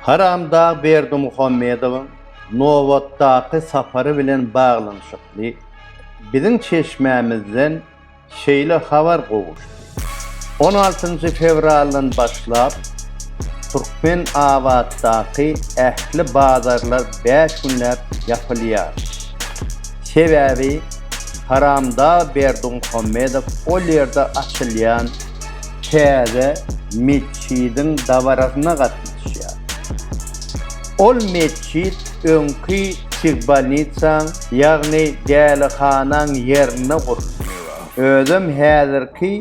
Haramdag Berdimuhamedowyň nobatdaky sapary bilen baglanyşykly biziň çeşmämizden şeýle habar gowuşdy, On altynjy fewraldan başlap, Türkmenabatdaky ähli bazarlar bäş günläp ýapylýar. Sebäbi Haramdag Berdimuhamedow ol ýerde açylýan täze metjidiň dabarasyna gatnaşýar. Ol metjit öňki psihbolnitsaň, ýagny dälihanaň ýerinde guruldy. Özem häzirki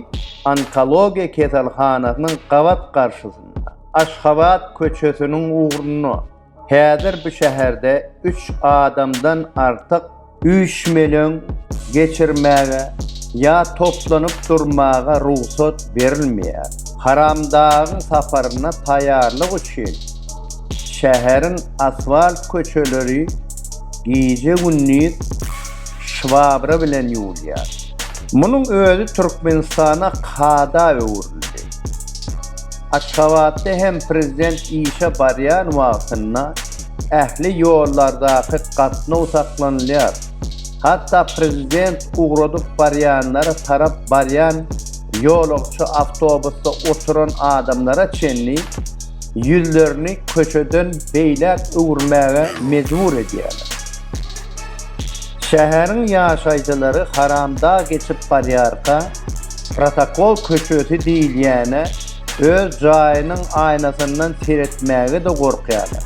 onkologiýa keselhanasynyň gabat garşysynda, Aşgabat köçesiniň ugrunda. Häzir bu şäherde üç adamdan artyk üýşmeleň geçirmäge ýa toplanyp durmaga rugsat berilmeýär. Haramdagyň saparyna taýýarlyk üçin şäheriň asfalt köçeleri gije-gündiz şwabra bilen ýuwulýar. Munuň özi Türkmenistana kada öwrüldi. Aşgabatda hem prezident işe barýan wagtynda ähli ýollardaky gatnaw saklanylýar. Hatda prezident ugradyp barýanlara tarap barýan ýolagçy awtobusda oturan adamlara çenli ýüzlerini köçeden beýläk öwürmäge mejbur edýärler. Şäheriň ýaşaýjylary haramdag geçip barýarka, Protokol köçesi diýilýäne öz jaýynyň aýnasyndan seretmäge-de gorkýarlar.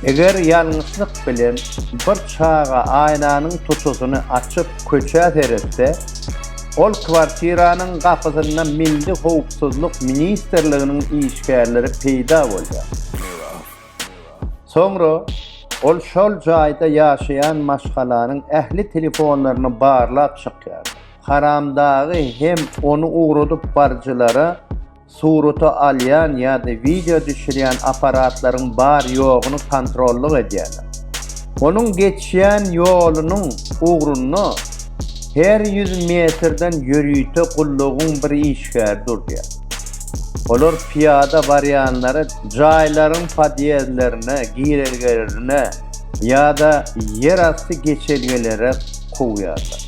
Eger ýalňyşlyk bilen bir çaga aýnanyň tutusyny açyp köçä seretse, ol kwartiranyň gapysynda Milli howpsuzlyk ministrliginiň işgärleri peýda bolýar. Soňra ol şol jaýda ýaşaýan maşgalanyň ähli telefonlaryny barlap çykýarlar. Haramdagy hem ony ugradyp barjylara surata alýan ýa-da wideo düşürýän apparatlaryň bar-ýogyny kontrollyk edýärler. Onuň geçýän ýolunyň ugrunda her ýüz metrden ýörite gullugyň bir işgäri durýar. Olar pyýada barýanlary jaýlaryň podýezdlerine, girelgelerine ýa-da ýerasty geçelgelere kowýarlar.